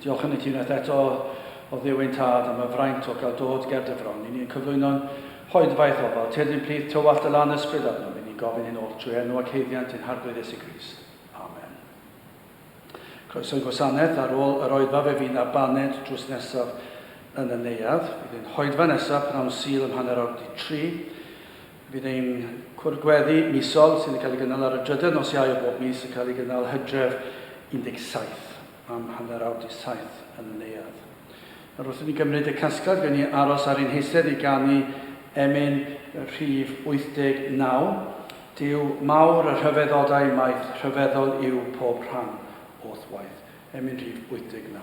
Diolch yn y ti unwaith eto o Dduw ein Tad am y fraint o gael dod ger dy fron. I ni yn cyflwyno'n hoedfa i'th ofal, tyrddyn plith tywallt dy lan ysbryd arnom. I ni'n gofyn hyn oll trwy enw ac haeddiant ein Harglwydd Iesu Grist. Amen. Croeso i gwasanaeth ar ôl yr oedfa fe fydd na baned drws nesaf yn y neuadd. Bydd ein hoedfa nesaf pnawn Sul ym hanner awr di tri. Bydd ein cwrdd gweddi misol, sy'n cael ei gynnal ar y drydedd nos Iau o bob mis, yn cael ei gynnal Hydref 17 am hanner awr dydd Saith yn y Neuadd. Nawr wrth i ni gymryd y casgliad, gawn ni aros ar ein heisedd i ganu emyn rhif 89, Duw mawr y rhyfeddodau maith, rhyfeddol yw pob rhan o'th waith. Emyn rhif 89.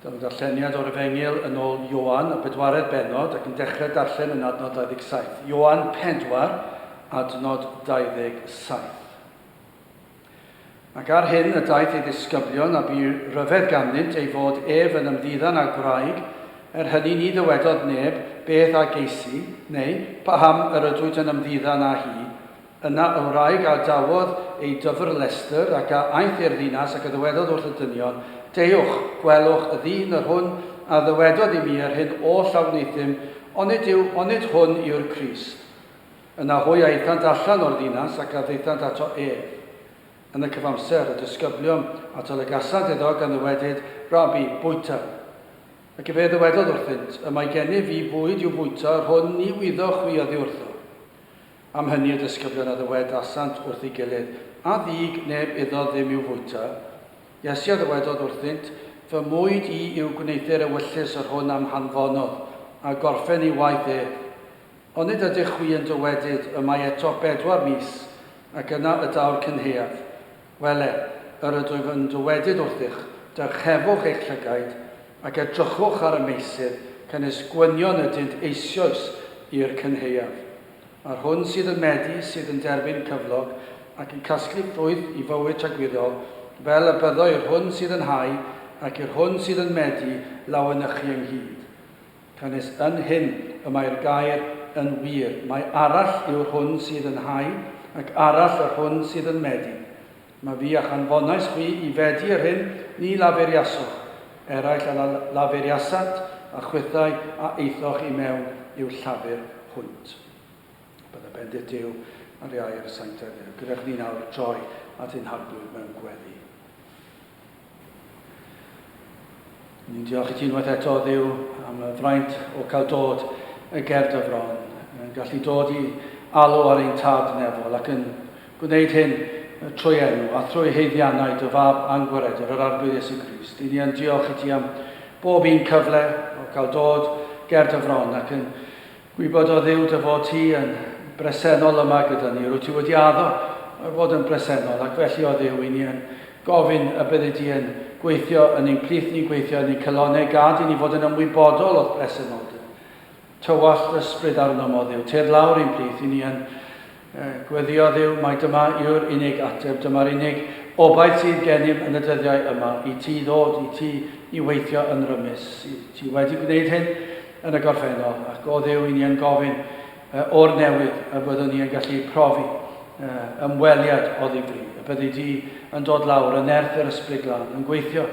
Dyma ddarlleniad o'r Efengyl yn ôl Ioan, y bedwaredd bennod, ac yn dechrau darllen yn adnod 27. Ioan 4, adnod 27. Ac ar hyn y daeth ei ddisgyblion, a bu rhyfedd ganddynt ei fod ef yn ymddiddan â gwraig, er hynny ni ddywedodd neb beth a geisi, neu paham yr ydwyt yn ymddiddan â hi, Yna y wraig a adawodd ei dyfrlestr, ac a aeth i'r ddinas, ac a ddywedodd wrth y dynion, Deuwch, gwelwch y ddyn yr hwn a ddywedodd i mi yr hyn oll a wneuthum, onid yw, onid hwn yw'r Crist? Yna hwy aethant allan o'r ddinas, ac a ddaethant ato ef. Yn y cyfamser, y disgyblion ato lygasant iddo, gan ddywedyd, Rabi, bwyta. Ac efe ddywedodd wrthynt, Y mae gennyf fi fwyd i'w fwyta, yr hwn ni wyddoch chwi oddiwrtho. Am hynny y disgyblion a ddywedasant wrth ei gilydd, A ddug neb iddo ddim i'w fwyta? Iesu a ddywedodd wrthynt, Fy mwyd i yw gwneuthur ewyllys yr hwn a'm hanfonodd, a gorphen ei waith ef. Onid ydych chwi yn dywedyd, Y mae eto bedwar mis, ac yna y daw'r cynhaeaf? Wele, yr ydwyf yn dywedyd wrthych, Dyrchefwch eich llygaid, ac edrychwch ar y meysydd, canys gwynion ydynt eisioes i'r cynhaeaf. Mae'r hwn sydd yn meddu, sydd yn derbyn cyflog, ac yn casglu ffrwyth i fywyd tragwyddol, fel y byddo i'r hwn sydd yn hau ac i'r hwn sydd yn meddu lawenychu ynghyd. Canys yn hyn y mae'r gair yn wir, Mae arall yw'r hwn sydd yn hau, ac arall yr hwn sydd yn meddu. Mae fi a'ch anfonais chi i fedi yr hyn ni laferiasoch, eraill a laferiasant, a chwithau a aethoch i mewn i'w llafur hwnt. Bydde bendith Duw ar iau'r sanctaidd gyda chdi nawr droi at ein harglwydd mewn gweddi. Ni'n diolch i ti unwaith eto, Dduw, am y fraint o cael dod y gerdd y fron, yn gallu dod i alw ar ein tad nefol ac yn gwneud hyn trwy enw a thrwy heiddiannau dy fab angwaredwr, yr Arglwydd Iesu Grist. I ni yn diolch i ti am bob un cyfle o cael dod gerdd y fron ac yn Gwybododd Huw dy fod ti yn bresennol yma gyda ni, rwyt ti wedi addo fod yn bresennol, ac felly o Dduw i ni yn gofyn y byddi di yn gweithio yn ein plith ni'n gweithio yn ein calonau, gad i ni fod yn ymwybodol o'th bresenoldeb. Tywallt dy ysbryd arnom, o Dduw, tyrd lawr i'n plith i ni yn Gweddïo Dduw, mai dyma yw'r unig ateb, dyma'r unig obaith sydd genym yn y dyddiau yma, i ti ddod, i ti i weithio yn rymus. I ti wedi gwneud hyn yn y gorffennol, ac o Dduw i ni yn gofyn o'r newydd y byddwn ni yn gallu profi ymweliad o ddifri, y byddi di yn dod lawr yn nerth yr Ysbryd Glân, yn gweithio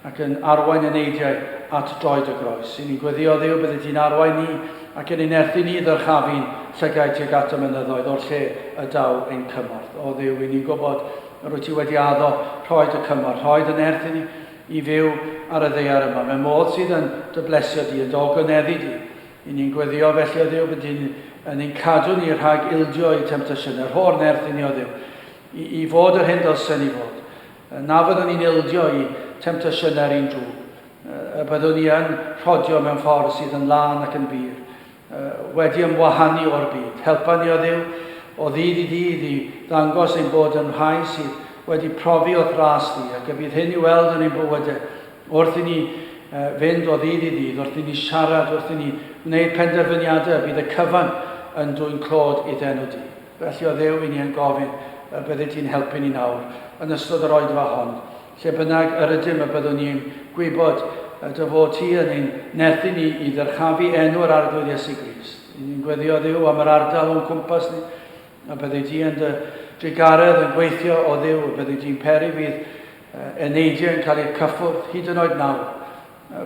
ac yn arwain y neidiau at droed y groes. I ni gweddïo Dduw, byddi di'n arwain ni ac yn ein nerthu ni i ddyrchafu'n llygaid tuag at y mynyddoedd o'r lle y daw ein cymorth. O Dduw, i ni'n gwybod yr wyt ti wedi addo rhoi dy cymorth, rhoi dy nerth i ni, i fyw ar y ddear yma, mewn modd sydd yn dy blesio di, yn dy ogoneddu di. I ni'n gweddïo felly o Dduw, byddi di'n yn ein cadw ni rhag ildio i temtasiynau, rho'r nerth i ni o Dduw, i, i fod yr hyn dylsen ni fod. Na fyddwn ni'n ildio i temtasiynau'r un twf. Y byddwn ni yn rhodio mewn ffordd sydd yn lân ac yn bur, wedi ymwahanu o'r byd. Helpa ni, o Dduw, o ddydd i ddydd i ddangos ein bod yn rhai sydd wedi profi o'th ras di, ac y bydd hyn i'w weld yn ein bywydau, wrth i ni fynd o ddydd i ddydd, wrth i ni siarad, wrth i ni wneud penderfyniadau, y bydd y cyfan yn dwyn clod idd'enw di. Felly o Dduw i ni yn gofyn y byddi ti'n helpu ni nawr, yn ystod yr oedfa hon, lle bynnag yr ydym y byddwn ni'n gwybod y dy fod ti yn ein nerthu ni i ddyrchafu enw yr Arglwydd Iesu Grist. I ni'n gweddio Dduw am yr ardal o'n cwmpas ni, y byddi ti yn dy drugaredd yn gweithio o Dduw, y byddi ti'n peri fydd eneidiau yn cael eu cyffwrdd hyd yn oed nawr,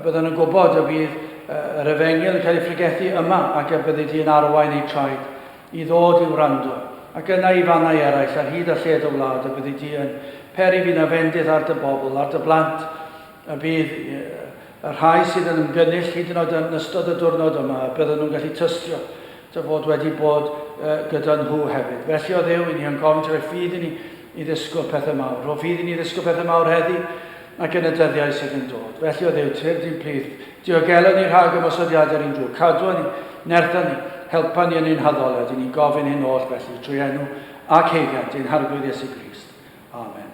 Byddwn yn gwybod y bydd yr efengyl yn cael ei phregethu yma ac y byddi di yn arwain eu traed i ddod i wrando, ac yna i fannau eraill ar hyd a lled y wlad y byddi di yn peri fi na fendith ar dy bobl, ar dy blant, y bydd y rhai sydd yn ymgynnull hyd yn oed yn ystod y diwrnod yma, y bydden nhw'n gallu tystio dy fod wedi bod gyda nhw hefyd. Felly, o Dduw, i ni yn gofyn ti roi ffydd i ni i ddisgwyl pethau mawr. Rho ffydd i ni ddisgwyl pethau mawr heddi, ac yn y dyddiau sydd yn dod. Felly o Dduw, tyrd i'n plith, diogela ni rhag ymosodiadau'r un drwg, cadwa ni, nertha ni, helpa ni yn ein haddoliad, i ni'n gofyn hyn oll felly trwy enw ac heigiant ein harglwydd Iesu Grist. Amen.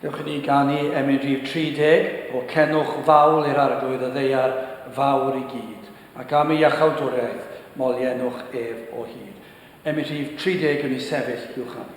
Dewch i ni ganu emyn rhif 30 o Cenwch Fawl i'r Arglwydd y Ddeiar Fawr i gyd, ac am ei iachawdwriaeth molienwch ef o hyd. Emyn rhif 30 yn ei sefyll i'w chanu.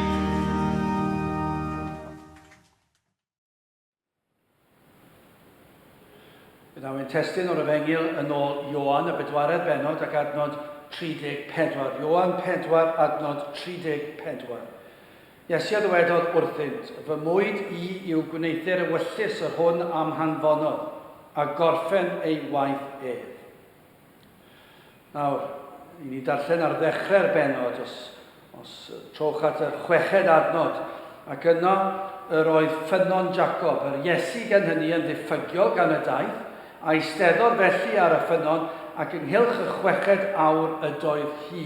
Yna mae'n testyn o'r Efengil yn ôl Ioan y bedwaredd benod ac adnod 34. Ioan 4 adnod 34. Iesu a ddywedodd wrthynt, Fy mwyd i yw gwneuthur ewyllys yr hwn am hanfonodd, a gorffen ei waith ef. Nawr, i ni darllen ar ddechrau'r bennod, os, os trowch at yr chweched adnod, ac yno yr oedd ffynnon Jacob, yr Iesu gan hynny yn ddiffygiol gan y daith, a eisteddodd felly ar y ffynnon, ac ynghylch y chweched awr ydoedd hi.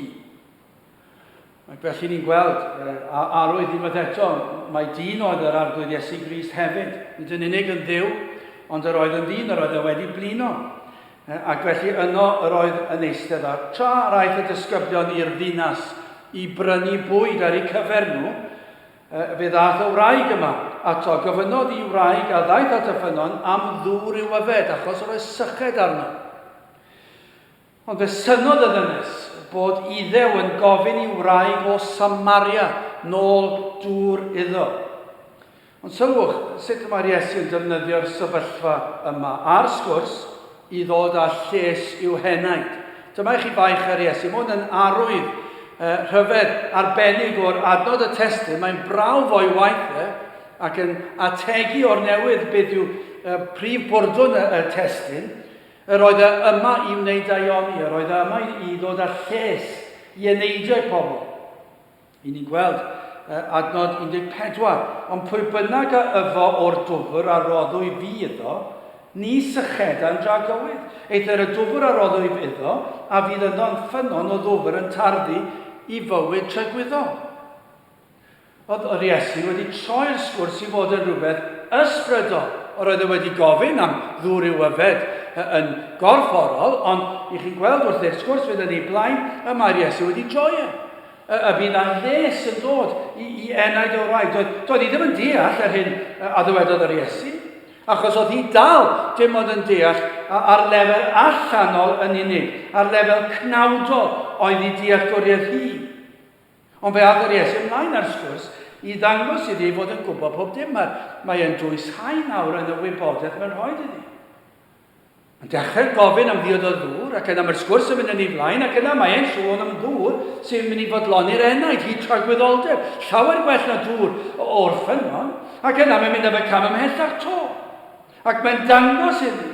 Ac felly ni'n gweld, a arwydd unwaith eto, mai dyn oedd yr Arglwydd Iesu Grist hefyd, nid yn unig yn Dduw, ond yr oedd yn ddyn, yr oedd e wedi blino. Ac felly yno yr oedd yn eistedd, a tra yr aeth y disgyblion i'r ddinas i brynu bwyd ar eu cyfer nhw, fe ddaeth y wraig yma ato, gofynnodd i wraig a ddaeth at y ffynnon am ddŵr i'w yfed, achos yr oedd syched arno. Ond fe synnodd y ddynes bod Iddew yn gofyn i wraig o Samaria nôl dŵr iddo. Ond sylwch sut y mae'r Iesu yn defnyddio'r sefyllfa yma a'r sgwrs i ddod â lles i'w henaid. Dyma i chi baich ar Iesu. Mae hwn yn arwydd uh, rhyfedd arbennig o'r adnod y testyn. Mae'n brawf o'i waith e ac yn ategu o'r newydd beth yw uh, prif bwrdwn y, y testyn. Yr oedd e yma i wneud daioni, yr oedd e yma i ddod â lles i eneidio i'r pobl. I ni'n gweld uh, adnod 14, ond pwy bynnag a yfo o'r dwfr a roddwy fi iddo, ni sycheda'n dra gywydd. Eithr y dwfr a roddwy fi iddo, a fydd yno'n ffynnon o ddwfr yn tarddu i fywyd tragwyddol. Oedd yr Iesu wedi troi'r sgwrs i fod yn rhywbeth ysbrydol? Yr oedd e wedi gofyn am ddŵr i'w yfed yn gorfforol, ond i chi'n gweld wrth i'r sgwrs fynd yn ei blaen, y mae'r Iesu wedi droi e. Y, y bydd â lles yn dod i, i enaid o wraig. Doedd, doedd hi ddim yn deall yr hyn a ddywedodd yr Iesu, achos oedd hi dal dim ond yn deall ar lefel allanol yn unig, ar lefel cnawdol oedd ei dealltwriaeth hi. Ond fe agor Iesu ymlaen â'r sgwrs i ddangos iddi ei fod yn gwybod pob dim. Mae, mae e'n dwysáu nawr yn y wybodaeth mae'n rhoi iddi. Mae'n dechrau gofyn am ddiod o ddŵr, ac yna mae'r sgwrs yn mynd yn ei flaen, ac yna mae e'n sôn am ddŵr sy'n mynd i fodloni'r enaid, hyd tragwyddoldeb, llawer gwell na dŵr o'r ffynnon, ac yna mae'n mynd am y cam ymhellach to, ac mae'n dangos iddi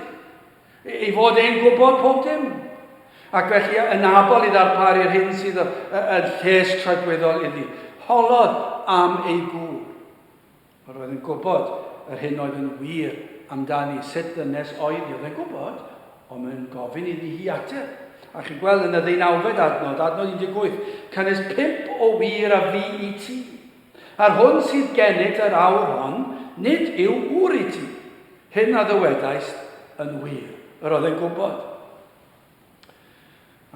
Ei fod e'n gwybod pob dim, ac felly yn abl i ddarparu'r hyn sydd yn lles tragweddol iddi. Holodd am ei gŵr. Yr oedd yn gwybod yr hyn oedd yn wir amdani, sut ddynes oedd hi, oedd e'n gwybod, ond mae'n gofyn iddi hi ateb. A chi'n gweld yn y ddeunawfed adnod, adnod 18, cynnes pump o wir a fu i ti. A'r hwn sydd gennyt yr awr hon, nid yw ŵr i ti. Hyn a ddywedaist yn wir, yr oedd yn gwybod.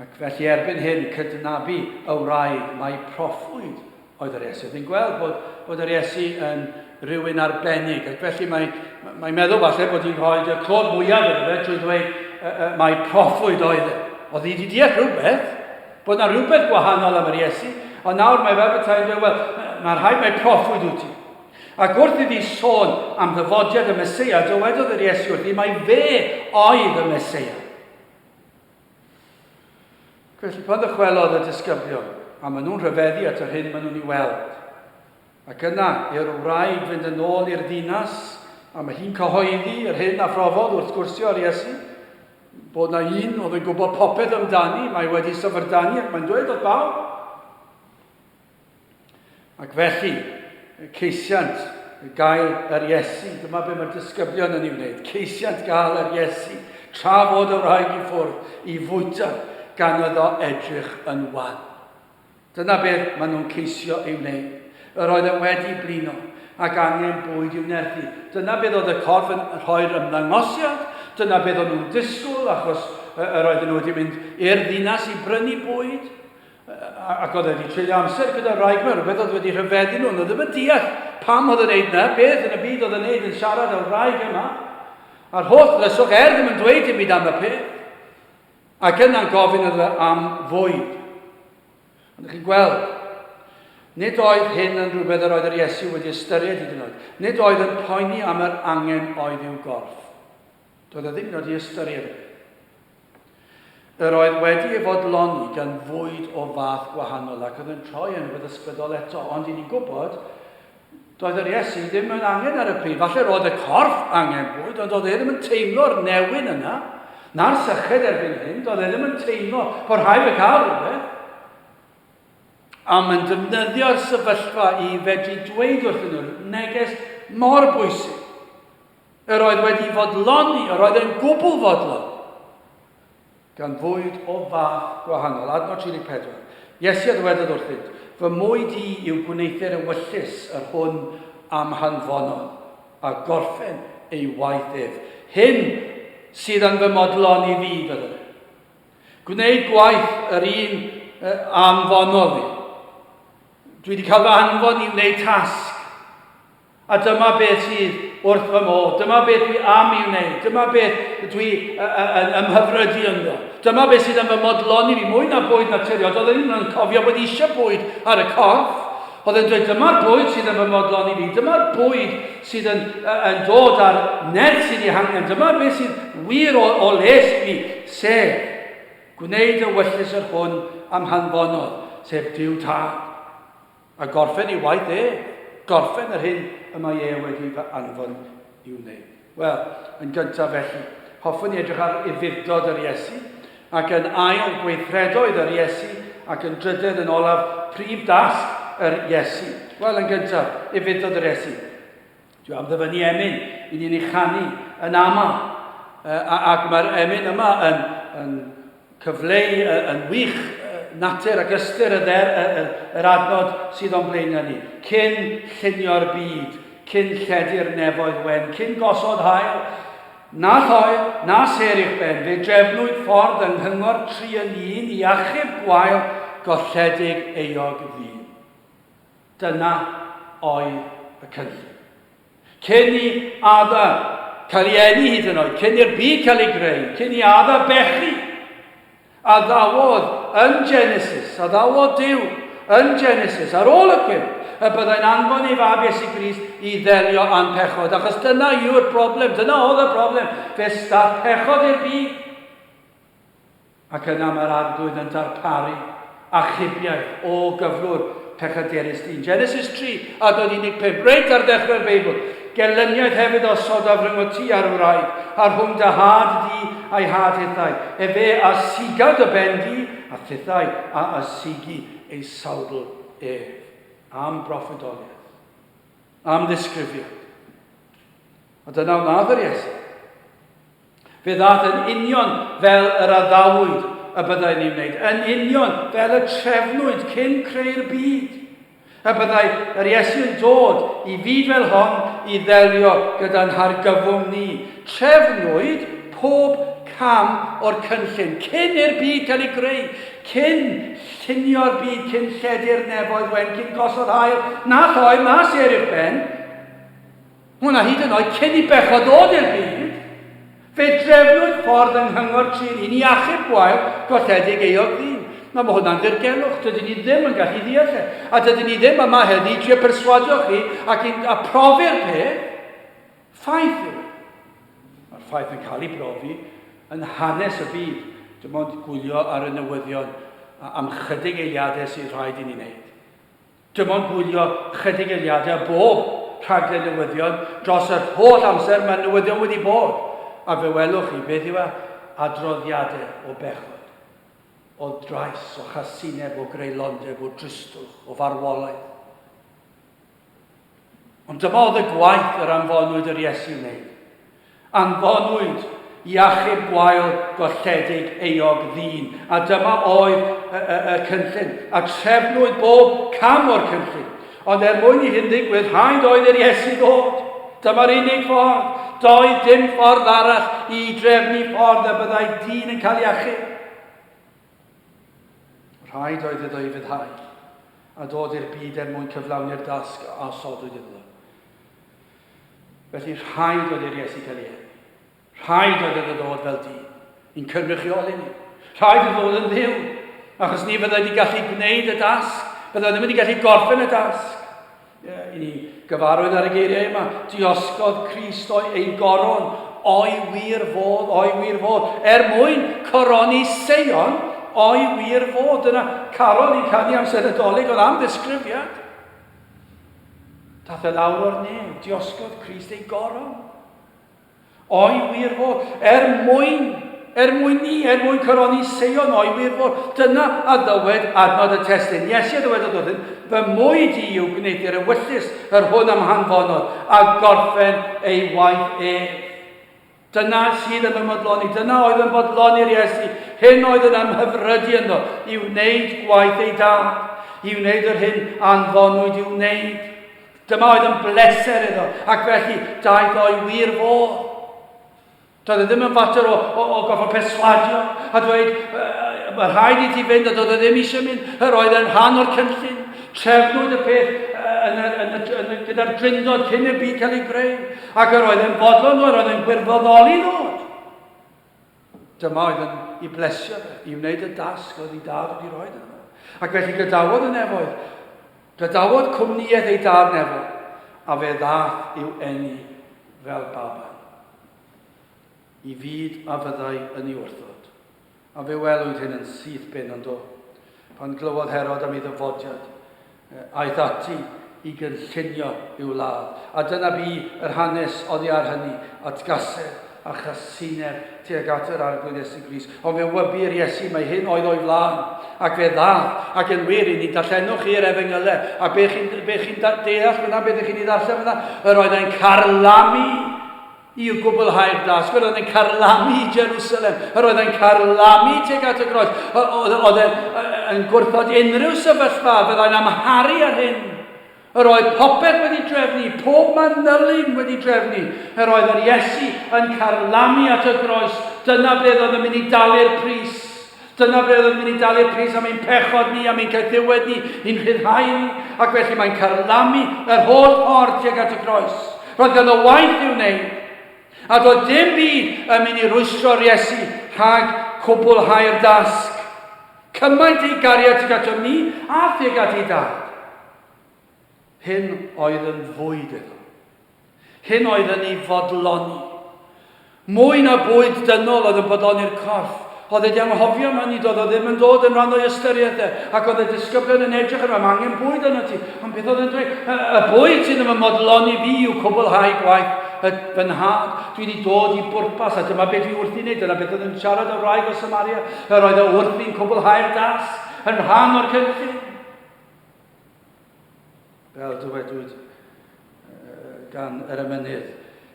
Ac felly erbyn hyn cydnabu y wraig mai proffwyd oedd yr Iesu. Oedd hi'n gweld bod, bod yr Iesu yn rhywun arbennig, ac felly mae'n mae meddwl falle bod hi'n rhoi y clod mwyaf iddo fe trwy ddweud uh, uh, mai proffwyd oedd e. Oedd hi wedi deall rhywbeth, Bod 'na rywbeth gwahanol am yr Iesu, ond nawr mae fe bethau yn dweud, wel, mae'n rhaid mai proffwyd wyt ti. Ac wrth iddi sôn am ddyfodiad y Mesoea, dywedodd yr Iesu wrthi mai fe oedd y Mesoea. Felly pan ddychwelodd y disgyblion, a maen nhw'n rhyfeddu at yr hyn maen nhw'n ei weld, Ac yna, i'r wraig fynd yn ôl i'r ddinas, a mae hi'n cyhoeddi yr hyn a phrofodd wrth gwrsio ar Iesu, bod na un oedd yn gwybod popeth amdani, mae wedi syfrdani ac mae'n dweud wrth bawb. Ac felly, ceisiant gael yr Iesu, dyma be mae'r disgyblion yn ei wneud, ceisiant gael yr Iesu, tra fod y wraig i ffwrdd, i fwyta, gan iddo edrych yn wan. Dyna beth maen nhw'n ceisio ei wneud. Yr oedd e wedi blino, ac angen bwyd i'w nerthu. Dyna beth oedd y corff yn rhoi'r ymddangosiad, dyna beth o'n nhw'n disgwyl, achos yr oedden nhw wedi mynd i'r ddinas i brynu bwyd, ac oedd e wedi treulio amser gyda'r wraig yma, rhywbeth oedd wedi rhyfeddu nhw, nhw ddim yn deall pam oedd yn neud na, beth yn y byd oedd yn neud yn siarad â'r wraig yma, a'r holl ddrysog, er ddim yn dweud dim byd am y peth. Ac yna gofyn iddo am fwyd. Ond ydych chi'n gweld, nid oedd hyn yn rhywbeth yr oedd yr Iesu wedi ystyried hyd yn oed. Nid oedd yn poeni am yr angen oedd i'w gorff. Doedd e ddim yn oed i ystyried e. Yr oedd wedi ei fodloni gan fwyd o fath gwahanol ac oedd yn troi yn rhywbeth ysbrydol eto, ond i ni'n gwybod Doedd yr Iesu ddim yn angen ar y pryd. Falle roedd y corff angen bwyd, ond doedd e ddim yn teimlo'r newyn yna, na'r syched erbyn hyn, doedd e ddim yn teimlo bod rhaid y cael rhywbeth. A mae'n defnyddio'r sefyllfa i fedru dweud wrthyn nhw neges mor bwysig. Yr oedd wedi fodloni, yr oedd yn gwbl fodlon. gan fwyd o fath gwahanol. Adnod 34. Iesu a ddywedodd wrthynt, Fy mwyd i yw gwneuthur ewyllys yr hwn a'm hanfonon, a gorffen ei waith ef. Hyn sydd yn fy modlon i fi, fydde. Gwneud gwaith yr un a'm fonodd i. Dwi wedi cael fy anfon i wneud tasg. A dyma beth sydd wrth fy modd. Dyma beth dwi am i wneud. Dyma beth dwi yn ymhyfrydu ynddo. Dyma beth sydd yn fy modloni fi. Mwy na bwyd naturiol. Doedd yn yn cofio bod eisiau bwyd ar y corff. Oedd yn dweud, dyma'r bwyd sydd yn fy modloni fi. Dyma'r bwyd sydd yn, yn dod â'r nerth sydd ei hangen. Dyma beth sydd wir o, o les fi. Sef, gwneud y wyllus yr hwn am hanfonodd, sef Duw Tad. A gorffen ei waith e, gorffen yr hyn y mae e wedi fy anfon i'w wneud. Wel, yn gyntaf felly, hoffwn i edrych ar Ufudd-dod yr Iesu, ac yn ail, gweithredoedd yr Iesu, ac yn drydedd, yn olaf, prif dasg yr Iesu. Wel, yn gyntaf, Ufudd-dod yr Iesu. Dwi am ddyfynnu emyn i ni'n ei chanu yn aml. Ac mae'r emyn yma yn, yn cyfleu yn wych natur ac ystyr y dder, yr adnod sydd o'n blaen ni. Cyn llunio'r byd, cyn lledu'r nefoedd wen, cyn gosod hael, na thoel, na ser i'ch ben, fe drefnwyd ffordd yng nghyngor tri yn un i achub gwael golledig eog ddyn. Dyna oedd y cynllun. Cyn i Ada cael ei eni hyd yn oed, cyn i'r byd cael ei greu, cyn i Ada bechu, addawodd yn Genesis, addawodd Duw yn Genesis, ar ôl y cwymp, y byddai'n anfon ei fab Iesu Grist i ddelio â'n pechod, achos dyna yw'r broblem, dyna oedd y broblem, fe staff pechod i'r byd. Ac yna mae'r Arglwydd yn darparu achubiaeth o gyflwr pechadurus dyn. Genesis 3 a dod 15, reit ar ddechrau'r Beibl. Gelyniaeth hefyd a sodaf rhwng o ti a'r wraig, a rhwng dy had di a'i had hithau. Efe a siga dy ben di, a thithau a a sigi ei sawdl ef. Am broffwydoliaeth. Am ddisgrifiad. A dyna wnaeth yr Iesu. Fe ddaeth yn union fel yr addawyd y byddai ni'n wneud, yn union fel y trefnwyd cyn creu'r byd. Y byddai yr Iesu yn dod i fyd fel hon i ddelio gyda'n hargyfwng ni. Trefnwyd pob cam o'r cynllun cyn i'r byd cael ei greu, cyn llunio'r byd, cyn lledu'r nefoedd wen, cyn gosod haul na lloer na sêr i'ch ben. Hwn a hyd yn oed cyn i bechod ddod i'r byd, fe drefnwyd ffordd yng Nghyngor Tir Ynni i achub gwael golledig euog ddyn. Nawr, mae hwnna'n ddirgelwch, dydyn ni ddim yn gallu ddeall e, a dydyn ni ddim yma heddi i trio perswadio chi ac i'n a profi'r peth. Ffaith yw e. Mae'r ffaith yn cael ei brofi yn hanes y byd, dim ond gwylio ar y newyddion a am chydig eiliadau sydd rhaid i ni wneud. Dim ond gwylio chydig eiliadau o bob rhaglen newyddion dros yr holl amser mae newyddion wedi bod, a fe welwch chi beth yw e, adroddiadau o bechod, o drais, o chasineb, o greulondeb, o dristwch, o farwolaeth. Ond dyma oedd y gwaith yr anfonwyd yr Iesu wneud. Anfonwyd i achub gwael golledig eog ddyn, a dyma oedd y, y, y cynllun, a trefnwyd bob cam o'r cynllun. Ond er mwyn i hyn ddigwydd, rhaid oedd i'r Iesu ddod. Dyma'r unig ffordd. Doedd dim ffordd arall i drefnu ffordd y byddai dyn yn cael ei achub. Rhaid oedd iddo ei fyddhau, a dod i'r byd er mwyn cyflawni'r dasg a osodwyd iddo. Felly rhaid oedd i'r Iesu cael ei eni. Rhaid oedd iddo ddod fel dyn, i'n cynrychioli ni. Rhaid oedd ddod yn ddiw, achos ni fyddai wedi gallu gwneud y dasg, byddai ddim wedi gallu gorffen y dasg. I ni gyfarwydd ar y geiriau yma, diosgodd Christ o'i ei goron, o'i wir fod, o'i wir fod, er mwyn coroni Seion, o'i wir fod. Dyna caron i'n canu amser y dolyg, oedd am ddisgrifiad. Dath e lawr o'r nef, diosgodd Christ ei goron. O'i wir fod, er mwyn, er mwyn ni, er mwyn coroni Seion, o'i wir fod, dyna a ddywed adnod y testyn. Iesu a ddywedodd wrthynt, Fy mwyd i yw gwneud i'r ewyllys yr hwn am hanfonod, a gorffen ei waith ef. Dyna sydd yn fy modloni, dyna oedd yn bodloni'r Iesu, hyn oedd yn ymhyfrydu ynddo, i wneud gwaith ei dad, i wneud yr hyn anfonwyd i'w wneud. Dyma oedd yn bleser iddo, ac felly daeth o'i wir fodd. Doedd e ddim yn fater o, o, o gorfod perswadio a dweud, mae rhaid i ti fynd, a doedd e ddim eisiau mynd, yr oedd e'n rhan o'r cynllun. Trefnwyd y peth yn y, yn y, yn y, gyda'r drindod cyn i'r byd cael ei greu, ac yr oedd e'n fodlon nhw, yr oedd e'n gwirfoddoli nhw. Dyma oedd yn i blesio i wneud y dasg oedd ei dad wedi rhoi yno. Ac felly gadawodd y nefoedd, gadawodd cwmnïaeth ei dad nefo, a fe ddath i'w enni fel baban. I fyd a fyddai yn ei wrthod. A fe welwyd hyn yn syth ben ond do. Pan glywodd Herod am ei ddyfodiad, Aeth ati i gynllunio ei wlad, a dyna bu yr hanes oddi ar hynny, atgasedd a chasineb tuag at yr Arglwydd Iesu Grist. Ond fe wybu i'r Iesu mai hyn oedd o'i flan, ac fe ddath, ac yn wir, i ni, darllenwch chi yr Efengylau, a be chi'n be chi deall fyna, beth ych chi'n ei ddarllen fyna, yr oedd e'n carlamu! I gwblhau'r dasg, yr oedd e'n carlamu i Jerusalem, yr oedd e'n carlamu tuag at y groes, oedd e'n yn gwrthod unrhyw sefyllfa fyddai'n amharu ar hyn. Yr oedd popeth wedi drefnu, pob manylyn wedi drefnu, yr oedd yr Iesu yn carlamu at y groes, dyna beth oedd yn mynd i dalu'r pris. Dyna ble oeddwn ni'n dalu y pris am ein pechod ni, am ein caethiwed ni, i'n rhyddhau ni, ac felly mae'n carlamu yr holl ffordd tuag at y groes. Roedd ganddo waith i'w wneud, a doedd dim byd yn mynd i rwystro'r Iesu rhag cwblhau'r dasg. Cymaint ei gariad tuag atom ni a thuag at ei dad. Hyn oedd yn fwyd iddo. cyn oedd yn ei fodloni. Mwy na bwyd dynol oedd yn bodloni'r corff. Oedd e di anghofio yma, nid oedd o ddim yn dod yn rhan o'i ystyriaeth e, ac oedd y disgyblion yn edrych arno, mae angen bwyd arno ti, ond beth oedd e'n dweud? Y, y bwyd sydd yn fy modloni fi yw cwblhau gwaith y, fy nhad. Dwi wedi dod i bwrpas, a dyma beth dwi wrthi'n wneud. Dyna beth oedd yn siarad o'r wraig o Samaria, yr oedd o wrthi'n cwblhau'r dasg yn rhan o'r cynllun. Fel dywedwyd gan yr emynydd,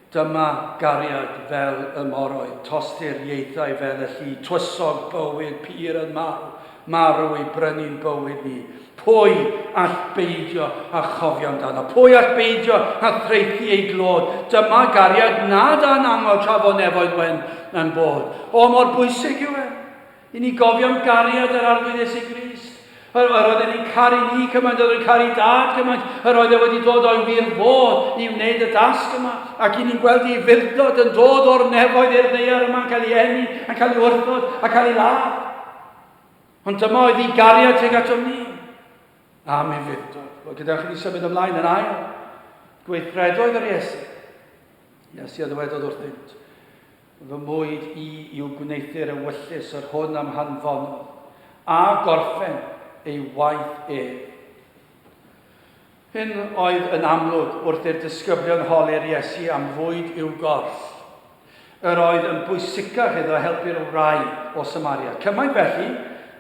Dyma gariad fel y moroedd, Tosti'r ieithau fel y lli, Twysog bywyd pur yn marw, Marw i brynu'n bywyd ni. Pwy all beidio â chofio amdano? Pwy all beidio â thraethu ei glod? Dyma gariad nad a'n amod tra fo nefoedd wen yn bod. O, mor bwysig yw e! I ni gofio am gariad yr Arglwydd Iesu Grist. Yr, yr oedd e wedi caru ni cymaint, oedd e'n caru dad cymaint, yr oedd e wedi dod o'i wir fodd i wneud y dasg yma. Ac i ni'n gweld ei fildod yn dod o'r nefoedd i'r ddeiar yma, yn cael ei enni, yn cael ei wrthod, a cael ei ladd. Ond dyma oedd ei gariad tuag ato ni. Am ei fildod. Wel, gyda chi ni symud ymlaen yn ail. Gweithredoedd yr Iesu. Iesu a ddywedodd wrthynt. Fy mwyd i yw gwneuthur ewyllys yr hwn a'm hanfonodd, a gorffen ei waith ef. Hyn oedd yn amlwg wrth i'r disgyblion holi'r Iesu am fwyd i'w gorff. Yr oedd yn bwysicach iddo helpu'r wraig o Samaria, cymaint felly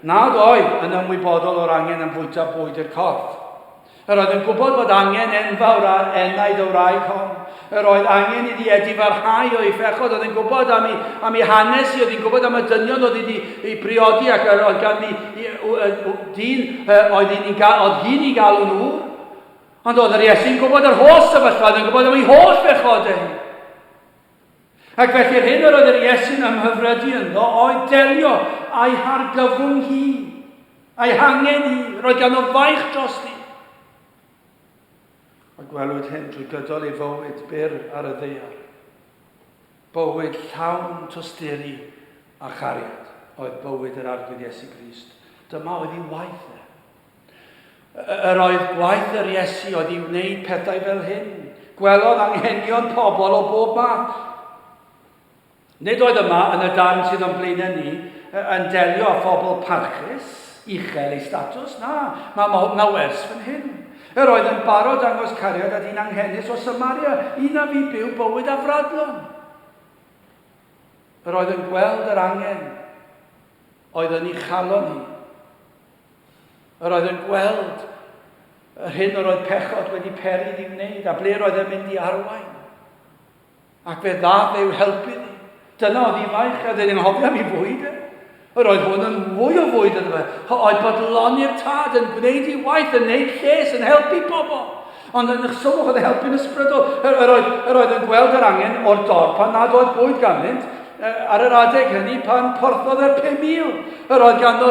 nad oedd yn ymwybodol o'r angen am fwyta bwyd i'r corff. Yr oedd yn gwybod fod angen enfawr ar enaid y wraig hon. Yr oedd angen iddi Edi farhau o'i phechod, oedd yn gwybod am ei, am ei hanes i, oedd yn gwybod am y dynion oedd wedi ei briodi ac yr oedd ganddi dyn oedd hi'n ei galw'n ŵr. Ond oedd yr Iesu'n gwybod yr holl sefyllfa, oedd yn gwybod am ei holl bechod ei. Ac felly'r hyn yr oedd yr Iesu'n ymhyfrydu ynddo oedd delio a'i hargyfwng hi, a'i hangen hi, roi gan o faich drosti. A gwelwyd hyn drwy gydol ei fywyd byr ar y ddeiar. Bywyd llawn tosturi a chariad oedd bywyd yr arglwydd Iesu Grist. Dyma oedd ei waith e. Yr oedd gwaith yr Iesu oedd i wneud pethau fel hyn. Gwelodd anghenion pobl o bob math. Nid oedd yma yn y darn sydd o'n blaenau ni yn delio â phobl parchus, uchel ei statws, na, mae ma, ma wers fan hyn. Yr oedd yn barod dangos cariad at un anghenus o Samaria, un a fi byw bywyd afradlon. Yr oedd yn gweld yr angen oedd yn ei chalon ni. Yr oedd yn gweld yr hyn yr oedd pechod wedi peri iddi wneud, a ble yr oedd yn mynd i arwain. Ac fe ddaf eu helpu ni. Dyna oedd ifaich, a dyn hofio am i fwyd e. Yr oedd hwn yn fwy o fwyd yn fe. Oedd bod loni'r tad yn gwneud i waith yn neud lles, yn helpu pobl. Ond yn uchsol mohodd e helpu'n ysbrydol. Yr oedd, yr oedd yn gweld yr angen o'r dorf pan nad oedd bwyd ganddynt, ar yr adeg hynny pan porthodd yr 5,000. Yr oedd ganddo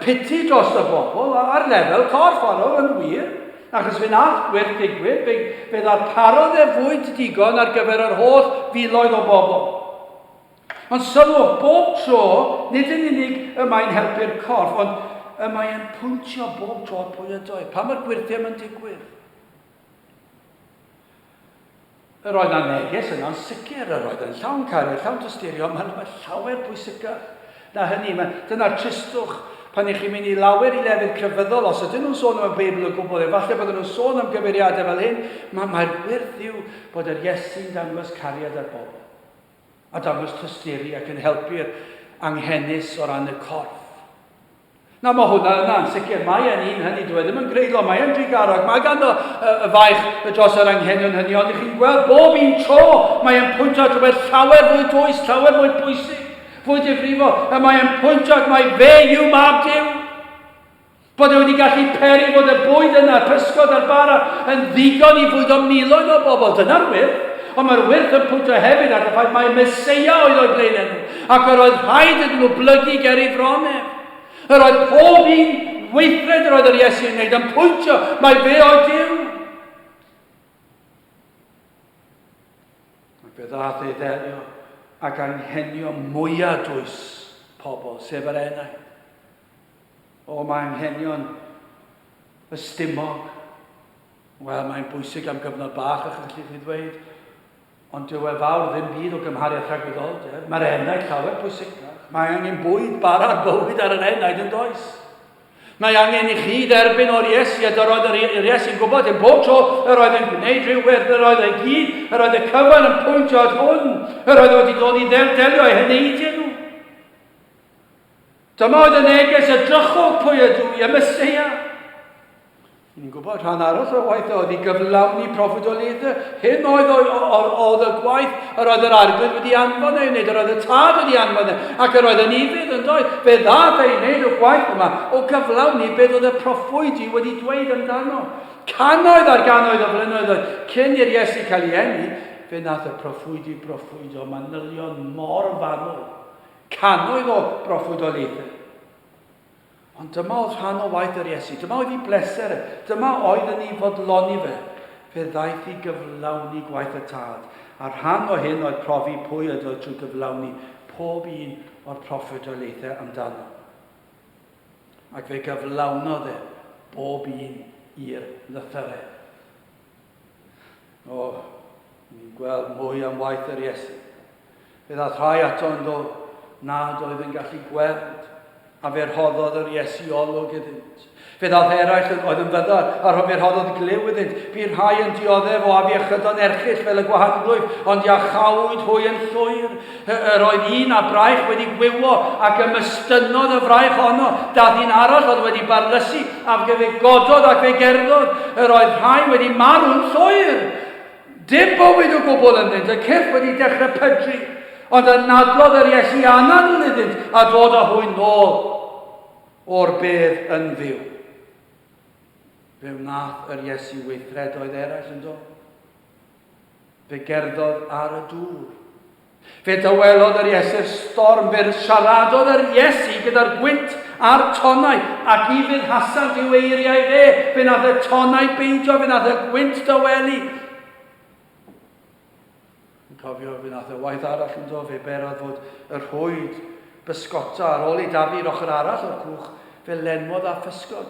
piti dros y bobl, ar lefel corff arol yn wir, achos fe nath gwir ddigwydd, fe, fe ddarparodd e fwyd digon ar gyfer yr holl filoedd o bobl. Ond sylwch, bob tro, nid yn unig y mae'n helpu'r corff, ond y mae e'n pwyntio bob tro pwy ydoedd, pan mae'r gwyrthiam yn digwydd. Yr oedd â neges yno'n sicr, yr oedd yn llawn caru, llawn tysturio, mae'n rhywbeth llawer pwysicach na hynny. Dyna'r tristwch pan ych chi'n mynd i lawer i lefydd crefyddol, os ydyn nhw'n sôn am y Beibl o gwbl, efallai bod nhw'n sôn am gyfeiriadau fel hyn, mae, mae'r gwirth yw bod yr Iesu'n dangos cariad ar bobl. a dangos tysturi ac yn helpu'r anghenus o ran y corff. Na, mae hwnna yna, yn sicr. Mae e'n un hynny, dwi e ddim yn greidlo, mae e'n digarog, mae ganddo y, y faich y dros yr anghenion hynny, ond ych chi'n gweld bob un tro, mae e'n pwyntio at rhywbeth llawer fwy dwys, llawer fwy pwysig, fwy difrifol, a mae e'n pwyntio at mae fe yw mab Dyw. Bod e wedi gallu peri fod y bwyd yna, pysgod a'r bara, yn ddigon i fwydo miloedd o bobl, dyna'r wyrth. Ond mae'r wyrth yn pwyntio hefyd at y ffaith mai Meseia oedd o'i blaenenw, ac yr oedd rhaid iddyn nhw blygu ger ei fron ef. Yr oedd pob un weithred yr oedd yr Iesu yn wneud yn pwyntio mai fe oedd Duw. Ac fe ddaeth ei ddelio ac anghenion mwyaf dwys pobl, sef yr enaid. O, mae anghenion y stumog. Wel, mae'n bwysig am gyfnod bach, ych felly chi ddweud, ond dyw e fawr ddim byd o gymhariaeth rhag gwyddolder. Mae'r enaid llawer pwysicach. Mae angen bwyd, bara, bywyd ar yr enaid yn does. Mae angen i chi dderbyn o'r Iesu, a dyroedd yr Iesu'n gwybod yn bob tro yr oedd yn gwneud rhyw werth, yr oedd ei gyd, yr oedd y cyfan yn pwyntio at hwn, yr oedd wedi dod i ddelio â'i heneidiau nhw. Dyma oedd y neges, edrychwch pwy ydw i, y Meseia. Ni'n gwybod rhan arall o'r waith oedd i gyflawni proffwydoliaeth y hyn oedd oedd y gwaith yr oedd yr arglwydd wedi anfon ei wneud, yr oedd y tad wedi anfon ei, ac yr oedd yn ifydd yn ddoedd, fe ddad ei wneud y gwaith yma o gyflawni beth oedd y proffwydi wedi dweud amdano. Canoedd ar ganoedd o flynyddoedd cyn i'r Iesu cael ei enni, fe nath y proffwydi broffwydo manylion mor fanwl Cannoedd o broffwydoliaethau. Ond dyma oedd rhan o waith yr Iesu. Dyma oedd ei bleser e. Dyma oedd yn ei fodloni fe. Fe ddaeth i gyflawni gwaith y Tad. A rhan o hyn oedd profi pwy oedd oedd trwy gyflawni pob un o'r proffwydoliaethau amdano. Ac fe gyflawnodd e bob un i'r lythyrau. O, ni'n gweld mwy am waith yr Iesu. Fe ddath rhai ato ynddo nad oedd yn gallu gweld, a fe rhoddodd yr Iesu olwg iddynt. Fe ddath eraill yn oedd yn fyddar, a rho fe rhoddodd glyw iddynt. Bu rhai yn dioddef o afiechydon erchill fel y gwahanglwyf, ond iachawyd hwy yn llwyr. Yr oedd un â braich wedi gwywo, ac ymystynnodd y fraich honno. Dath un arall oedd wedi barlysu, a fe gododd ac fe gerddodd. Yr oedd rhai wedi marw'n llwyr. Dim bywyd o gwbl ynddynt, y cyrff wedi dechrau pydru. Ond anadlodd yr Iesu anadl iddynt a dod â hwy nôl o'r bedd yn fyw. Fe wnaeth yr Iesu weithredoedd eraill yn do. Fe gerddodd ar y dŵr. Fe dawelodd yr Iesu'r storm, fe siaradodd yr Iesu gyda'r gwynt a'r tonnau, ac ni fudhasant i'w eiriau fe, fe nath y tonnau beidio, fe nath y gwynt dawelu. Yn cofio, fe nath y waith arall yn do, fe berodd fod y rhwyd bysgota ar ôl ei dafu i'r ochr arall o'r cwch, fe lenwodd a physgod.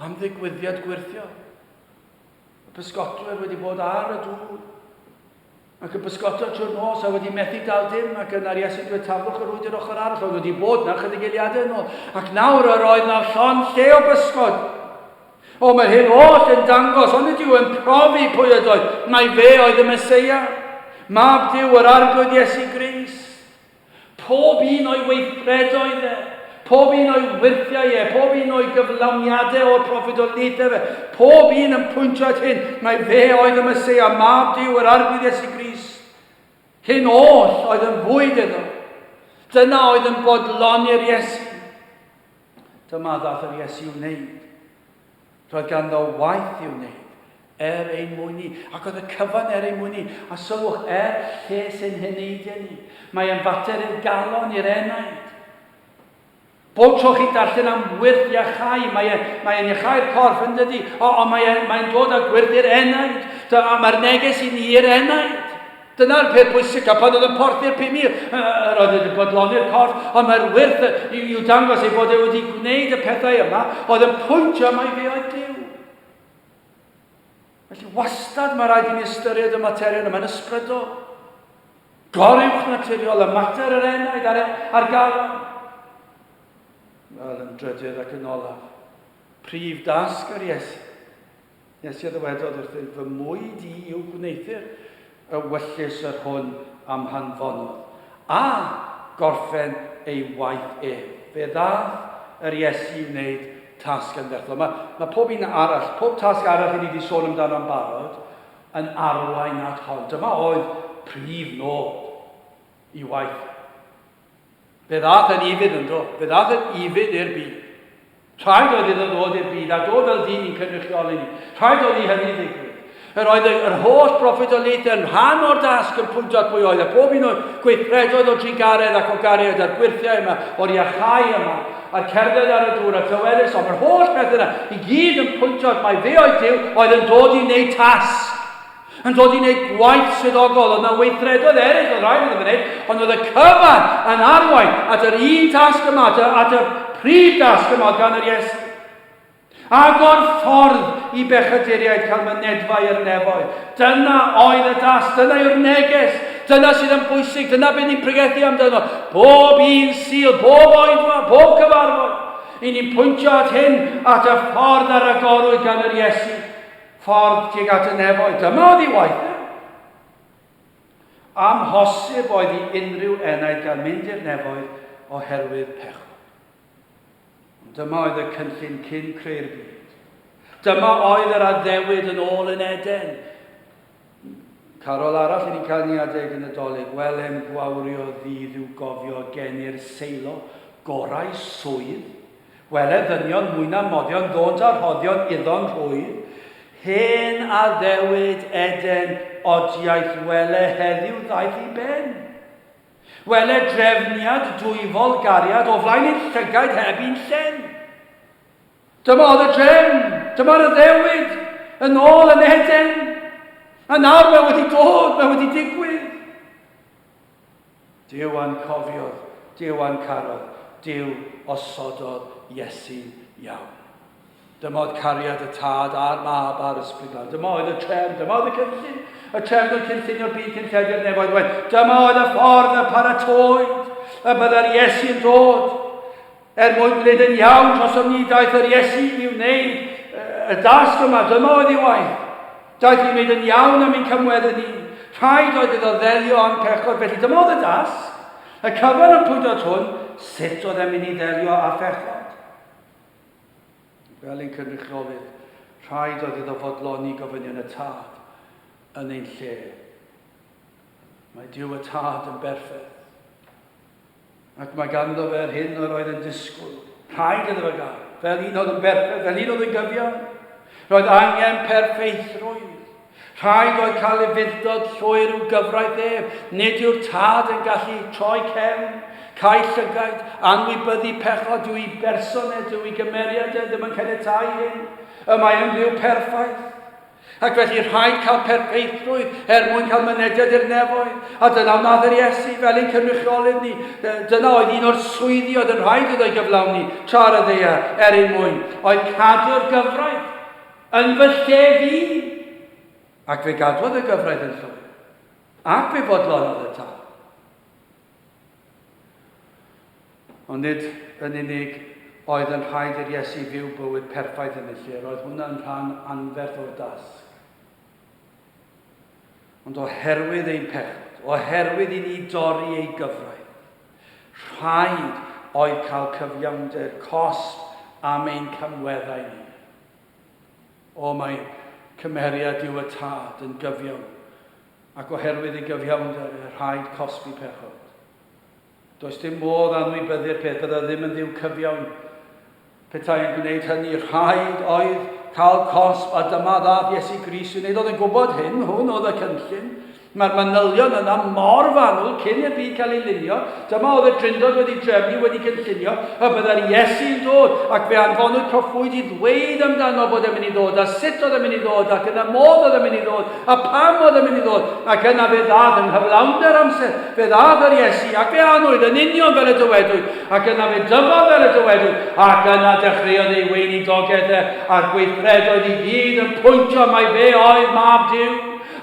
Am ddigwyddiad gwyrthiol. Y pysgotwyr wedi bod ar y dŵr, ac yn pysgota trwy'r nos a wedi methu dal dim, ac yna'r Iesu dweud taflwch yr wyd i'r ochr arall, oedd wedi bod na chydig eiliadau yn ôl, ac nawr yr oedd na llon lle o bysgod. O, mae'r hyn oll yn dangos, ond ydyw yn profi pwy ydoedd, mae fe oedd y Mesoea, mab Dyw yr Arglwydd Iesu Gris. Pob un o'i weithredoedd e, pob un o'i wyrthiau e, pob un o'i gyflawniadau o'r proffwydoliaethau fe, pob un yn pwyntio at hyn mai fe oedd y Meseia, mab Duw, yr Arglwydd Iesu Grist. Hyn oll oedd yn fwyd iddo. Dyna oedd yn bodloni'r Iesu. Dyma ddath yr Iesu wneud. Roedd ganddo waith i'w wneud, er ein mwyn ni, ac oedd y cyfan er ein mwyn ni, a sylwch, er lles ein heneidiau ni. Mae e'n fater i'r galon, i'r enaid. Bob tro chi'n darllen am wyrth iachau, mae e'n mae e iachau'r corff yn dydy, ond mae e'n mae e dod â gwyrth i'r enaid. Mae'r neges i ni i'r enaid. Dyna'r peth pwysicaf, pan oedd yn porthi'r 5,000, yr oedd wedi bodloni'r corff, ond mae'r wyrth i'w dangos ei bod e wedi gwneud y pethau yma, oedd yn pwyntio mai fe oedd Duw. Felly wastad mae rhaid i ni ystyried y materion yma'n ysbrydol. Goriwch naturiol y mater yr enaid ar, ar galon. Wel, yn drydydd ac yn olaf, prif dasg yr Iesu Nes i a ddywedodd wrthyf fy mwyd i yw gwneuthur y wyllys yr hwn a'm hanfonodd, a gorffen ei waith ef. Fe ddaeth yr Iesu i wneud tasg yn fethlon. Mae, mae pob un arall, pob tasg arall i ni wedi sôn amdano'n barod, yn arwain at hon. Dyma oedd prif nod i waith Fe ddaeth yn ufudd ynddo, fe ddaeth yn ufudd i'r byd. Rhaid oedd iddo ddod i'r byd a dod fel dyn i'n cynrychioli ni. Rhaid oedd i hynny ddigwydd. Yr oedd yr holl broffwydoliaethau yn rhan o'r dasg yn pwyntio at bwy oedd, a phob un o'r gweithredoedd o drugaredd ac o gariad a'r gwyrthiau yma, o'r iachau yma, a'r cerdded ar y dŵr, a'r lleweris hon, yr holl bethau yna i gyd yn pwyntio at mai fe oedd Duw oedd yn dod i wneud tasg. Yn dod i wneud gwaith swyddogol, oedd yna weithredoedd eraill oedd rhaid iddo fo wneud, ond oedd y cyfan yn arwain at yr un tasg yma, at y, at y prif dasg yma oedd gan yr Iesu. Agor ffordd i bechaduriaid cael mynedfa i'r nefoedd. Dyna oedd y das, dyna yw'r neges, dyna sydd yn bwysig, dyna beth ni'n pregethu amdano. Bob un sil, bob oedfa, bob cyfarfod, i ni'n pwyntio at hyn, at y ffordd ar agorwyd gan yr Iesu. Ffordd tuag at y nefoedd, dyma oedd ei waith e! Amhosib oedd i unrhyw enaid gael mynd i'r nefoedd oherwydd pechod. Ond dyma oedd y cynllun cyn creu'r byd. Dyma oedd yr addewid yn ôl yn Eden. Carol arall yn cael ni adeg y Nadolig. Welem gwawrio ddydd i'w gofio gen i'r seilo gorau swydd. Wele ddynion mwy na moddion ddônt a rhoddion iddo'n rhwydd. Hen addewid Eden odiaeth wele heddiw ddaeth i ben. Wele drefniad dwyfol gariad o flaen ein llygaid heb un llen. Dyma oedd y drefn, dyma'r addewid, yn ôl yn Eden. A nawr mae wedi dod, mae wedi digwydd. Dyw a'n cofiodd, dyw a'n carodd, dyw osododd Iesu iawn. Dyma oedd cariad y tad a'r mab a'r ysbryd glân. Dyma oedd y trefn, dyma oedd y cynllun, y trefn oedd cynllunio'r byd cyn llefiad nefoedd waith. Dyma oedd y ffordd y paratoed y byddai'r Iesu yn dod. Er mwyn gwneud yn iawn dros ym mi daeth yr Iesu i wneud y dasg yma, dyma oedd ei waith. Daeth i wneud yn iawn am ein cymweddu ni. Rhaid oedd iddo ddelio â'n pechod, felly dyma oedd y dasg. Y cyfan yn pwydo'r hwn, sut oedd e'n mynd i ddelio â phechod? Fel ein cynrychiolydd, rhaid oedd iddo fodloni gofynion y tad yn ein lle. Mae Dyw y tad yn berffaith. Ac mae ganddo fe'r hyn yr oedd yn disgwyl. Rhaid iddo fe gael, fel un oedd yn berffaith, fel un oedd yn gyfiawn. Roedd angen perffaithrwydd. Rhaid oedd cael ei furdod llwyr i'w gyfraith ef. Nid yw'r tad yn gallu troi cefn, cael llygaid, anwybyddu pechod, dyw'i berson e, dyw'i gymeriad e ddim yn caniatáu hyn. Y mae yn fyw perffaith. Ac felly rhaid cael perffeithrwydd er mwyn cael mynediad i'r nefoedd. A dyna wnaeth yr Iesu fel ein cynrychiolydd ni. Dyna oedd un o'r swyddi oedd yn rhaid iddo ei gyflawni tra ar y ddeia er ein mwyn, oedd cadw'r gyfraith yn fy lle fi. Ac fe gadwodd y gyfraith yn llwyr. Ac fe fodlonnodd y tâl. Ond nid yn unig oedd yn rhaid i'r Iesu fyw bywyd perffaith yn y lle, roedd hwnna yn rhan anferth o'r dasg. Ond oherwydd ein pechod, oherwydd i ni dorri ei gyfraith, rhaid oedd cael cyfiawnder cosb am ein camweddau ni. O, mae cymeriad Duw y Tad yn gyfiawn Ac oherwydd ei gyfiawnder e rhaid cosbi pechod. Does dim modd anwybyddu'r peth, bydda ddim yn Dduw cyfiawn petai yn gwneud hynny. Rhaid oedd cael cosb, a dyma ddath Iesu Grist i wneud. Oedd yn gwybod hyn, hwn oedd y cynllun. Mae'r manylion yna mor fanwl cyn i'r byd cael ei lunio. Dyma oedd y Drindod wedi drefnu, wedi cynllunio, y byddai'r Iesu yn dod, ac fe anfonwyd proffwyd i ddweud amdano bod e'n mynd i ddod, a sut oedd e'n mynd i ddod, ac yn y modd oedd e'n mynd i ddod, a pam oedd e'n mynd i ddod, ac yna fe ddath yng nghyflawnder amser, fe ddath yr Iesu, ac fe anwyd yn union fel y dywedwyd, ac yna fe dyfodd fel y dywedwyd, ac yna dechreuodd ei weinidogaeth e, a'r gweithredoedd i gyd yn pwyntio mai fe oedd Mab Duw.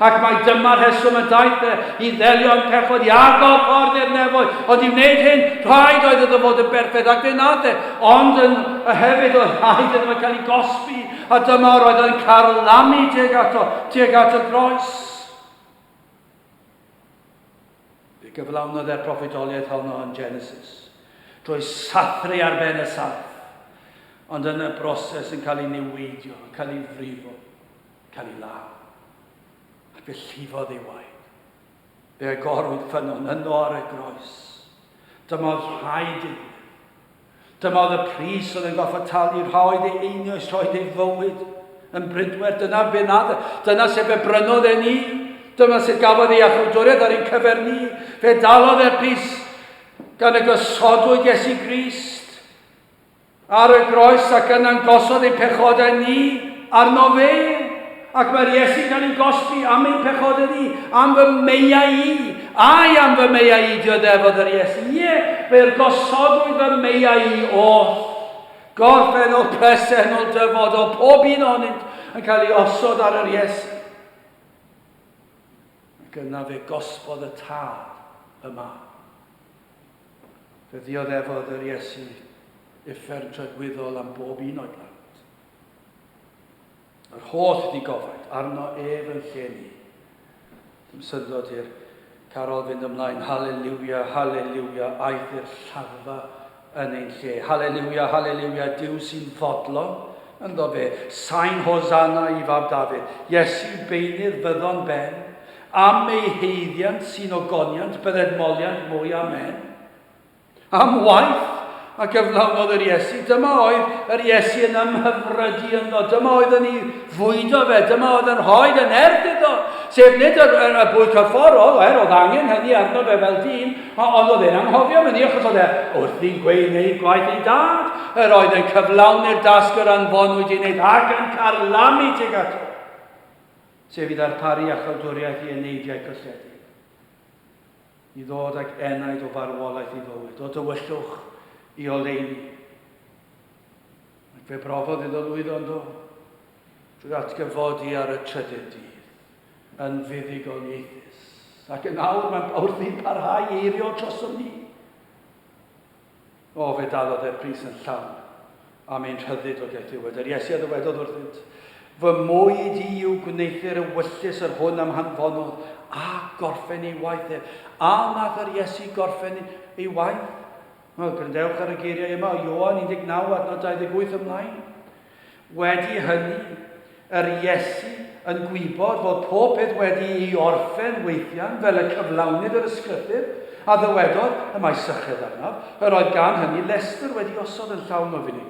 Ac mai dyma'r rheswm y daeth e i ddelio yn pechod i agor ffordd i'r nefoedd, ond i wneud hyn, rhaid oedd iddo fod yn berffaith, ac fe wnaeth e, ond yn hefyd oedd rhaid iddo fe cael ei gosbi, a dyma yr oedd yn carlamu tuag ato, tuag at y groes. Fe gyflawnodd e'r proffidoliaeth honno yn Genesis, drwy sathru ar ben y sarff, ond yn y broses yn cael ei niweidio, yn cael ei frifo. cael ei law, ac fe llifodd ei waed. Fe agorwyd ffynnon yno ar y groes. Dyma oedd rhai deunyddiau. Dyma oedd y pris oedd yn gorfod talu, rha oedd ei einioes, rha oedd ei fywyd yn brydwer. Dyna fe nad, dyna sef fe brynodd e ni. Dyna sef gafodd ei achawdwriaeth ar ein cyfer ni. Fe dalodd e'r pris gan y gosodwyd Iesu Grist. Ar y groes ac yna'n gosod ein pechodau ni arno fe, ac mae'r Iesu'n cael ei gosbi am ein pechodau ni, am fy meiau i. Ai, am fy meiau i, diodefodd yr Iesu. Ie, fe'r gosodwyd fy meiau i oll. Gorffennol, presennol, dyfodol, pob un ohonynt yn cael ei osod ar yr Iesu. Ac yna fe gosbodd y tad y mab. Fe ddioddefodd yr Iesu uffern tragwyddol am bob un o'i blant. Yr holl ddigofaid arno ef yn lle ni. Dim syndod i'r carol fynd ymlaen, Haleliwia, Haleliwia, aeth i'r lladdfa yn ein lle. Haleliwia, Haleliwia, Dyw sy'n fodlon, ynddo fe, sain Hosanna i fab Dafydd. Iesu beinydd fyddon ben, Am eu haeddiant sy'n ogoniant bydded moliant mwy. Amen. Am waith a gyflawnodd yr Iesu, dyma oedd yr Iesu yn ymhyfrydu ynddo, dyma oedd yn ei fwydo fe, dyma oedd yn rhoi yn erth iddo, sef nid yr, yr, y bwy corfforol, er oedd angen hynny arno fe fel dyn, ond oedd e'n anghofio hynny achos oedd e wrth i'n gwneud gwaith ei dad, yr oedd yn cyflawni'r dasg yr anfonwyd i wneud ac yn carlamu tuag ato. sef i ddarparu acholdwriaeth i eneidiau cyllidedig i ddod ag enaid o farwolaeth i fywyd, o dywyllwch i oleuni. Ac fe brofodd iddo lwyddo yn do, drwy atgyfodi ar y trydydd dydd, yn fuddugoliaethus, ac yn awr mae'n wrthi'n parhau i eirio trosom ni. O, fe dalodd e'r pris yn llawn am ein rhyddid o deith ddiwedd. Yr Iesu a ddywedodd wrthynt, Fy mwyd i yw gwneuthur ewyllys yr hwn am hanfonodd a gorffen ei waith e. A wnaeth yr Iesu gorffen ei waith? Wel, gryndewch ar y geiriau yma o Ioan 19 adnod 28 ymlaen. Wedi hynny, yr Iesu yn gwybod fod pob peth wedi ei orffen weithian fel y cyflawnid yr ysgrythur, a ddywedodd, y mae syched arnaf, yr oedd gan hynny lestr wedi osod yn llawn o finigr.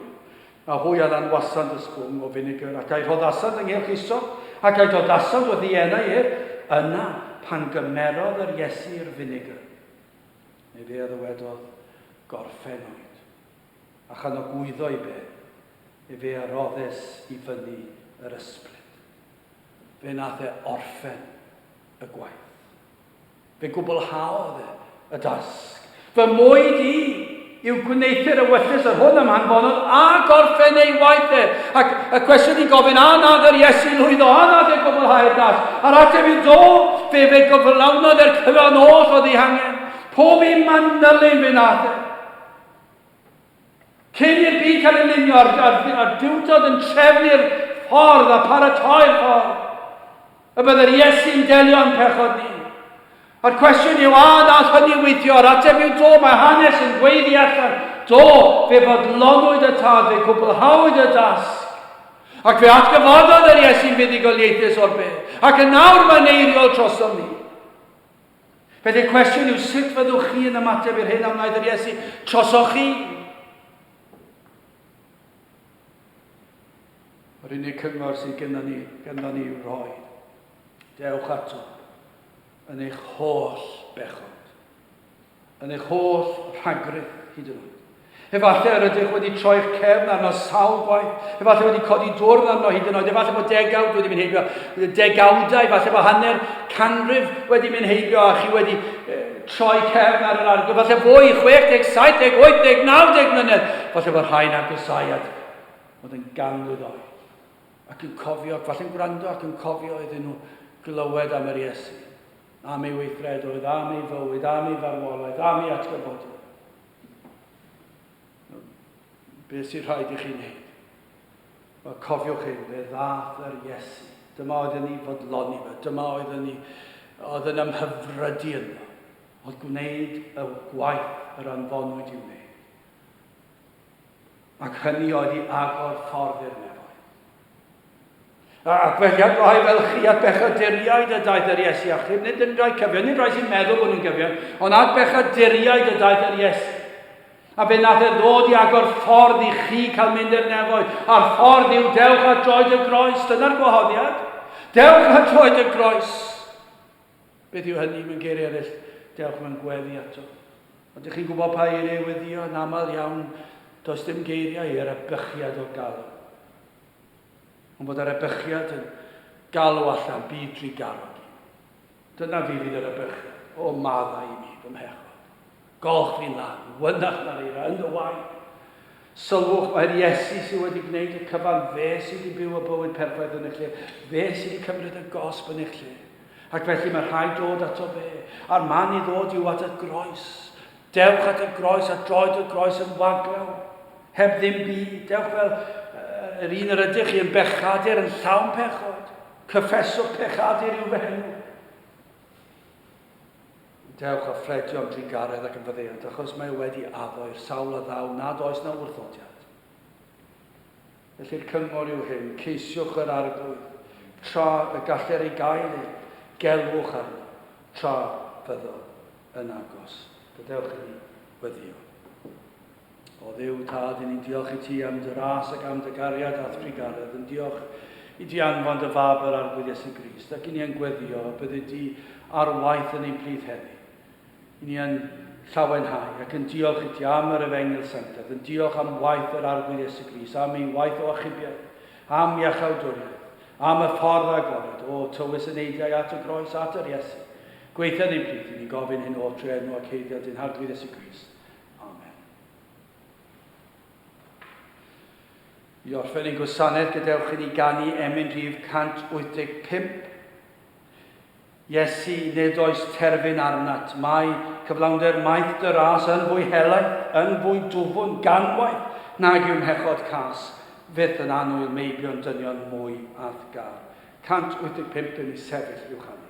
A hwy a lanwasant y sbwng o finigr, ac a'i rhoddasant ynghylch isop, ac a'i dodasant wrth ei enau ef, yna pan gymerodd yr Iesu i'r finigr, ef e a ddywedodd, Gorffen oed. a chanogwyddo i be, efe a roddes i fyny yr ysbryd. Fe nath e orffen y gwaith. Fe gwblhaodd e y dasg. Fy mwyd i yw gwneuthur ewyllys yr hwn am hanfonodd a gorffen ei waith e. Ac y cwestiwn i gofyn, a nath yr Iesu lwyddo, a nath e gwblhau'r dasg? A'r ateb yw do, fe fe gyflawnodd e'r cyfan oll oedd ei hangen. Pob un manylyn fe nath e. Cyn i'r byd cael ei lunio a'r, a'r, a'r diwdod yn trefnu'r ffordd a pharatoi'r ffordd, y byddai'r Iesu'n delio yn pechod ni. A'r cwestiwn yw, a nath hynny widio? A'r ateb yw do, mae hanes yn gweud i allan. Do, fe fodlonwyd y tad, fe gwblhawyd y dasg. Ac fe atgyfododd yr Iesu'n fuddugoliaethus o'r byd, ac yn nawr mae'n eiriol trosom ni. Felly cwestiwn yw sut fyddwch chi yn ymateb i'r hyn a wnaeth yr Iesu trosoch chi? Yr unig cyngor sydd gyda ni, gyda ni i'w rhoi. Dewch ato yn eich holl bechod. Yn eich holl rhagrith, hyd yn oed. Efallai yr ydych wedi troi'ch cefn arno sawl gwaith. Efallai wedi codi dwrn arno hyd yn oed. Efallai bod degawd wedi mynd heibio. Degawdau, efallai bod hanner canrif wedi mynd heibio a chi wedi e, troi cefn ar yr arglwydd. Efallai fwy, 60, 70, 80, 90 mlynedd. Efallai bod rhai'n agosau at fod yn ganmlwydd oed ac yn cofio, ac falle'n gwrando ac yn cofio iddyn nhw glywed am yr Iesu. am ei weithredoedd, am ei fywyd, am ei farwolaeth, am ei atgyfodiad. Beth sy'n rhaid i chi wneud? Wel, cofiwch hyn, fe ddath yr Iesu. Dyma oedd yn ei fodloni fe, dyma oedd yn ei, oedd yn ymhyfrydu yno, oedd gwneud y gwaith yr anfonwyd i wneud. Ac hynny oedd i agor ffordd i'r nefoedd. A gwelliad gwahi fel chi at bechaduriaid y daeth yr Iesu achub, nid yn rhai cyfion, nid rhai sy'n meddwl bod nhw'n gyfion, ond at bechaduriaid y daeth yr Iesu. A fe nath e ddod i agor ffordd i chi cael mynd i'r nefoedd. A'r ffordd yw dewch a droed y groes. Dyna'r gwahoddiad. Dewch a droed y groes. Beth yw hynny, mewn geiriau eraill, dewch mewn gweddi ato. Ond dych chi'n gwybod pa eiriau i weddio, yn aml iawn, does dim geiriau i erybychiad o galw. Ond bod erybychiad yn galw allan byd drugarog i mi. Dyna fi fydd erybychiad, o maddau i mi, fy mhechod. Golch fi'n dda. Wynach na'r eira, yn dy waed. Sylwch, mai'r Iesu sydd wedi gwneud y cyfan, fe sydd wedi byw y bywyd perffaith yn eich lle, fe sydd wedi cymryd y gosb yn eich lle. Ac felly mae rhaid dod ato fe, a'r man i ddod yw at y groes. Dewch at y groes a droed y groes yn waglaw, heb ddim byd. Dewch fel yr un yr ydych chi yn bechadur yn llawn pechod. Cyffeswch pechadur i'w fenw. Dewch a phledio am drugaredd ac am faddeuant, achos mae e wedi addo i'r sawl a ddaw nad oes 'na wrthodiad. Felly'r cyngor yw hyn, ceisiwch yr Arglwydd, tra y galler ei gael ei, gelwch arno, tra fyddo yn agos. Gadewch i ni weddio. O Dduw Tad, i ni'n diolch i ti am dy ras ac am dy gariad a'th trugaredd, yn diolch i di anfon dy fab yr Arglwydd Iesu Grist, ac i ni yn gweddio y byddi di ar waith yn ein plith heddi. I ni yn llawenhau ac yn diolch i ti am yr efengyl sanctaidd, yn diolch am waith yr Arglwydd Iesu Grist, am ei waith o achubiaeth, am iachawdwriaeth, am y ffordd agored, o tywys y neidiau at y groes, at yr Iesu. Gweithio yn ein plith, i ni'n gofyn hyn o trwy enw ac heiddiad dyn Harglwydd Iesu Grist. Amen. I orffen ein gwasanaeth, gadewch i ni ganu emyn rhif 185. Iesu, nid oes terfyn arnat, mae cyflawnder maeth dy ras yn fwy helaeth, yn fwy dwfwn, ganwaith, nag yw mhechod cas, fyth yn annwyl meibion dynion mwy athgar. 185 yn ei sefyll i'w chanu.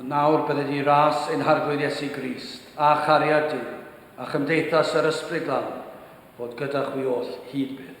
A nawr byddi di ras ein Harglwydd Iesu Grist, a chariad Duw, a chymdeithas yr Ysbryd Glân, fod gyda chwi oll hyd byth.